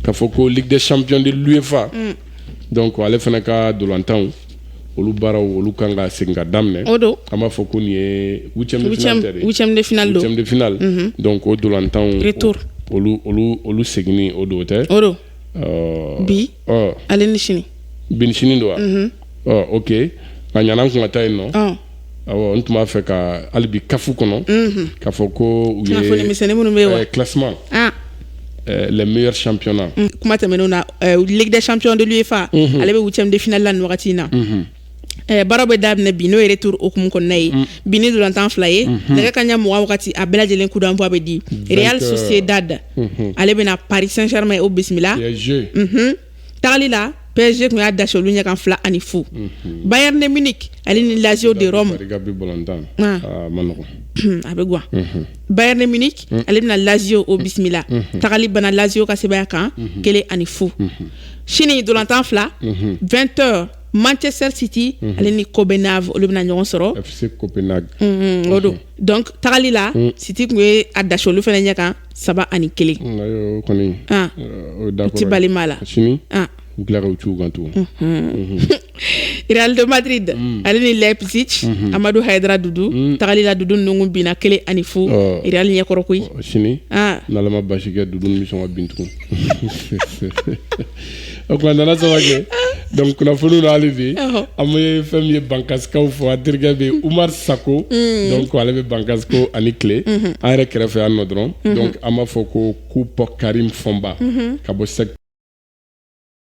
K'a fɔ ko ligue des champions de l'UEFA unn donc ale fana ka dolantanw olu baaraw olu kan ka segin ka daminɛ o don an b'a fɔ ko nin ye 8ème de finale tɛ de 8ème de finale don 8ème de finale unhun donc o dolantanw retour olu olu olu seginni o don o tɛ o don ɔɔ bi ɔ ale ni sini bi ni sini don wa mhm. ɔ ok a ɲana n kun ka taa yen nɔ ɔ awɔ n tun b'a fɛ ka hali bi CAF kɔnɔ mhm. k'a fɔ ko u ye kunnafoni misɛnni minnu bɛ yen wa classement ah. Eh, les meilleurs championnats mm, kuma tɛmɛnenw na eh, ligue des champions de l'UEFA mm-hmm. ale bɛ huitième de finale la nin wagati in na mm-hmm. Eh, baaraw bɛ daminɛ bi n'o ye retour hukumu kɔnɔna ye mm. bi ni dolantan fila ye mhm. nɛgɛ kanɲɛ mugan wagati a bɛɛ lajɛlen coup d'envoi bɛ di Real Sociedad mhm. ale bɛna Paris Saint-Germain o bisimila mhm. tagali la PSG kun y'a dasi olu ɲɛkan fila ani fu Bayern de Munich ale ni Lazio de Rome ah. Ah, a bɛ guwa Bayern de Munich mm. ale bɛna Lazio o bisimila tagali banna Lazio ka sebaya kan kelen ani fu sini dolantan fila 20 heures Manchester City mhm. ale ni Copenhague olu bɛna ɲɔgɔn sɔrɔ FC Copenhague mhm, o don mhm. donc tagali la City kun ye a dasi olu fana ɲɛ kan saba ani kelen o kɔni ah. euh, o d'accord u ti bali maa la sini ah. u tila ka u t'u kan tugun Real de Madrid mm. ale ni Leipzig mm-hmm. Amadou Haidara Doudou mm. tagali la Doudou ninnu binna kelen ani fu oh. Real ɲɛkɔrɔ koyi oh, sini ah. n'Ala ma basi kɛ Doudou bɛ sɔn ka bin tugun O kuma nana Samake donc kunnafoni na hali bi an ye fɛn min ye Bankasikaw fɔ a terikɛ bɛ Oumar Sako donc ale bɛ Bankass ko a ni tile an yɛrɛ kɛrɛfɛ yan nɔ dɔrɔn donc an b'a fɔ ko coupe Karim Fomba ka bɔ sɛ